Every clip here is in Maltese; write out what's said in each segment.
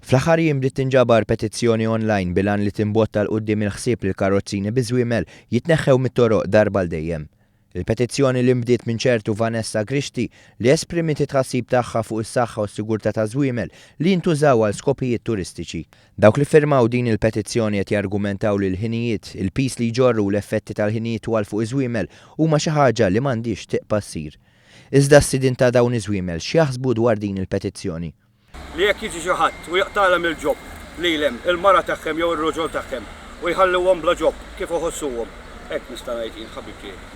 Fl-aħħar jiem bdiet tinġabar petizzjoni online bil-għan li timbotta 'l quddiem il-ħsieb li l-karrozzini bi żwiemel jitneħħew mit-toroq darba għal dejjem. Il-petizzjoni li nbdiet minn ċertu Vanessa Grixti li esprimiet it-tħassib tagħha fuq is-saħħa u s-sigurtà ta' żwiemel li jintużaw għal skopijiet turistiċi. Dawk li ffirmaw din il-petizzjoni qed jargumentaw li l-ħinijiet, il-piż li jġorru u l-effetti tal-ħinijiet twal fuq iż-żwiemel huma xi ħaġa li m'għandhiex tiqpa' ssir. Iżda s-sidien ta' dawn iż-żwiemel x'jaħsbu dwar din il-petizzjoni? Li jekk jiġi xi ħadd u jaqtagħlhem il-ġob lilhem, il-mara tagħhhem jew ir-roġol tagħhhem u jħalluhom bla ġob, kif iħossuhom? Hekk nista' ngħid jien, ħabib tiegħi.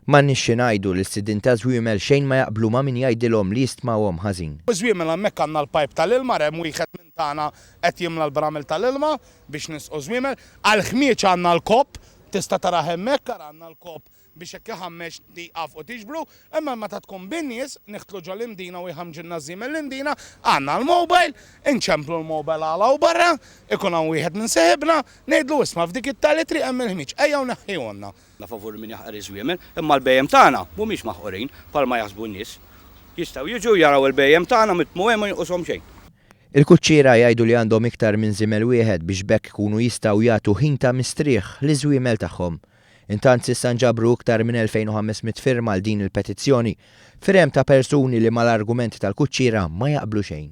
M'għandniex xi ngħidu li s-sidien ta' żwiemel xejn ma jaqblu ma' min jgħidilhom li jistmawhom ħażin. U ż-żwiemel hemmhekk għandna l-pajp tal-ilma, hemm wieħed minn tagħna qed jimla l-bramel tal-ilma biex nisqu ż-żwiemel. Għall-ħmieġ għandna l-kopp, tista' tarah hemmhekk, ara għandna l-kopp biex hekk iħammeġ tieqaf u tiġbru, imma meta tkun bin-nies, niħtlu ġol-imdina u jħammġilna ż-żiem mill-imdina, għandna l-mobile, inċemplu l-mobile għala u barra, ikun hawn wieħed minn seħibna, ngħidlu isma' f'dik it-tali triq hemm il-ħmieġ, ejja u neħħihulna. Aħna favur min jaħqar iż-żwiemel, imma l-bhejjem tagħna mhumiex maħqurin bħalma jaħsbu n-nies. Jistgħu jiġu jaraw il-bhejjem tagħna mitmugħin ma jinqushom xejn. Il-kuċċiera jgħidu li għandhom iktar minn żiemel wieħed biex b'hekk ikunu jistgħu jagħtu ħin ta' mistrieħ liż-żwiemel tagħhom. Intant s'issa nġabru iktar minn 2,500 firma għal din il-petizzjoni, firem ta' persuni li mal-argumenti tal-kuċċiera ma jaqblu xejn.